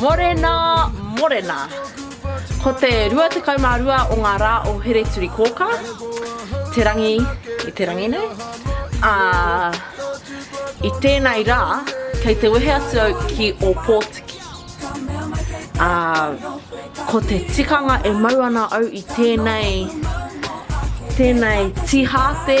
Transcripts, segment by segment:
Morena, morena. Ko te 22 o ngā rā o Hereturikōkā, te rangi i te rangi nei, ā, i tēnei rā, kei te wehe atu au ki Ōpōtiki. Ā, ko te tikanga e mau ana au i tēnei, tēnei tīhāte,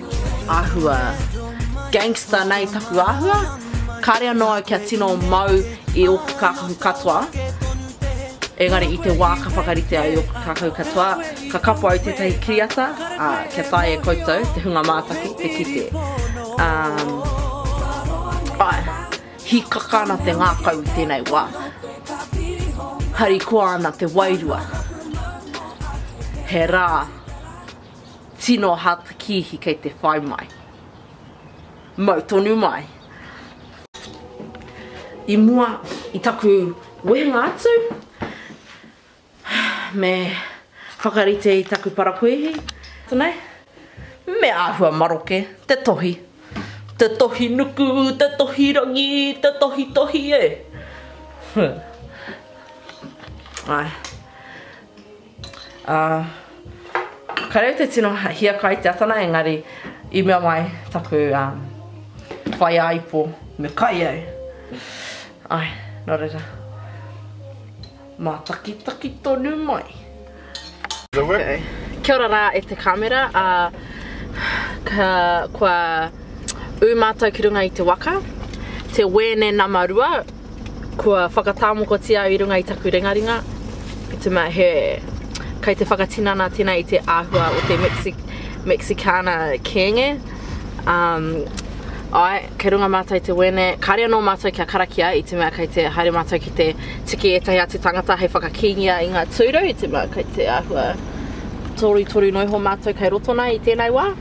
Ahua. Gangster nei taku ahua. Kare ano au kia tino mau i oku kakahu katoa. Engari i te wa ka whakarite au i oku kakahu katoa, ka kapo au tetahi kiriata, a, kia tae e koutou, te hunga mātaki, te kite. Um, ae, hikaka ana te ngakau i tenei wa. Harikoa ana te wairua. He ra. Tino hard kiihi kei te whai mai. Mau tonu mai. I mua i taku wehenga atu, me whakarite i taku parakuihi, tanei, me ahua maroke, te tohi. Te tohi nuku, te tohi rangi, te tohi tohi e. Huh. Ae. Ā, ka reo te tino hiaka i te atana engari i mea mai taku whaiāipo me kai au. Āe, nō reira, mātakitaki tonu mai. Kia ora rā e te kāmera, ā, kua ū mātou ki runga i te waka, te Wēne nama rua, Kua whakatāmokotia au i runga i taku ringaringa, i te mea he, kei te whakatinana tēnā i te āhua o te Mexi, Mexicana kēnge. Um, ai, kei runga mātou i te wēne, kāre anō mātou kia karakia i te mea kei te haere mātou ki te tiki ētahi atu tangata hei whakakīngia i ngā tūru, i te mea kei te āhua torutoru noa iho mātou kei roto nā i tēnei wā.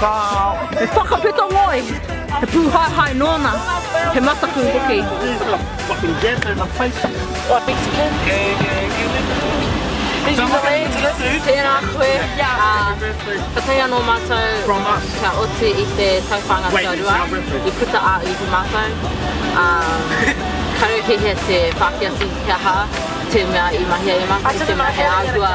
Ka he whakapeto ngoi, he pūhaehae nōna, he mataku hoki. Tēnā koe, ka tae anō mātou kia oti i te tauwhāinga tuarua i puta ā iwi mātou. Karekehia te Pākehā ki te aha, te mea i mahia e mātou, te mea he āhua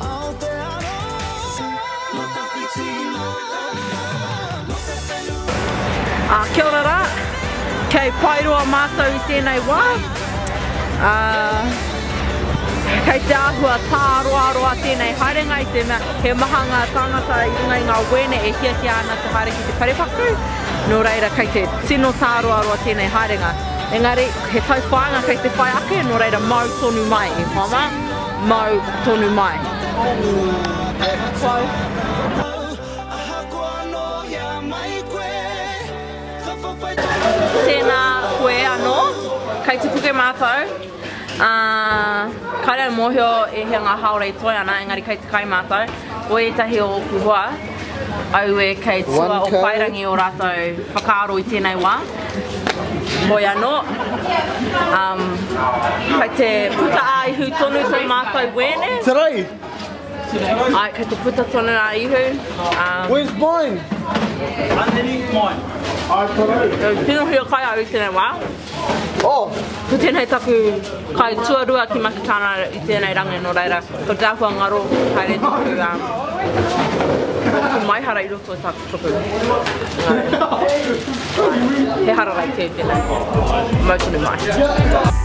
Aotearoa Nō tawhiti, nō taua, nō te whenua e te hā. Kia ora rā, kei Paeroa mātou i tēnei wā. Kei te āhua tāroaroa tēnei haerenga i te mea he maha ngā tāngata i runga i ngā wēne e hiahia ana te haere ki te parepaku, nō reira kei te tino tāroaroa tēnei haerenga. Engari, he tauwhāinga kei te whai ake, nō reira mau tonu mai e whama. Mau tonu mai. Tēnā koe anō, kei te puke mātou, ā, kāre au mōhio e hea ngā hāora e toe ana, engari kei te kai mātou, o ētahi o ōku hoa. Aue kei tua o Paerangi o ratou whakaaro i tenei wa. Hoi ano, um, kei te puta a Ihu tonu to matou wene. Today. Ai, kei te puta tonu a Ihu. Um, Where's mine? Underneath mine. Ai, tonu. Tino hio kai au i tenei wa. Oh! Ko tēnei taku kai tuarua ki Makitana i tēnei rangi nō reira, ko te ahua ngaro haere taku um, taku maihara i roto i taku tuku. He hararai kē tēnei, mautunu mai.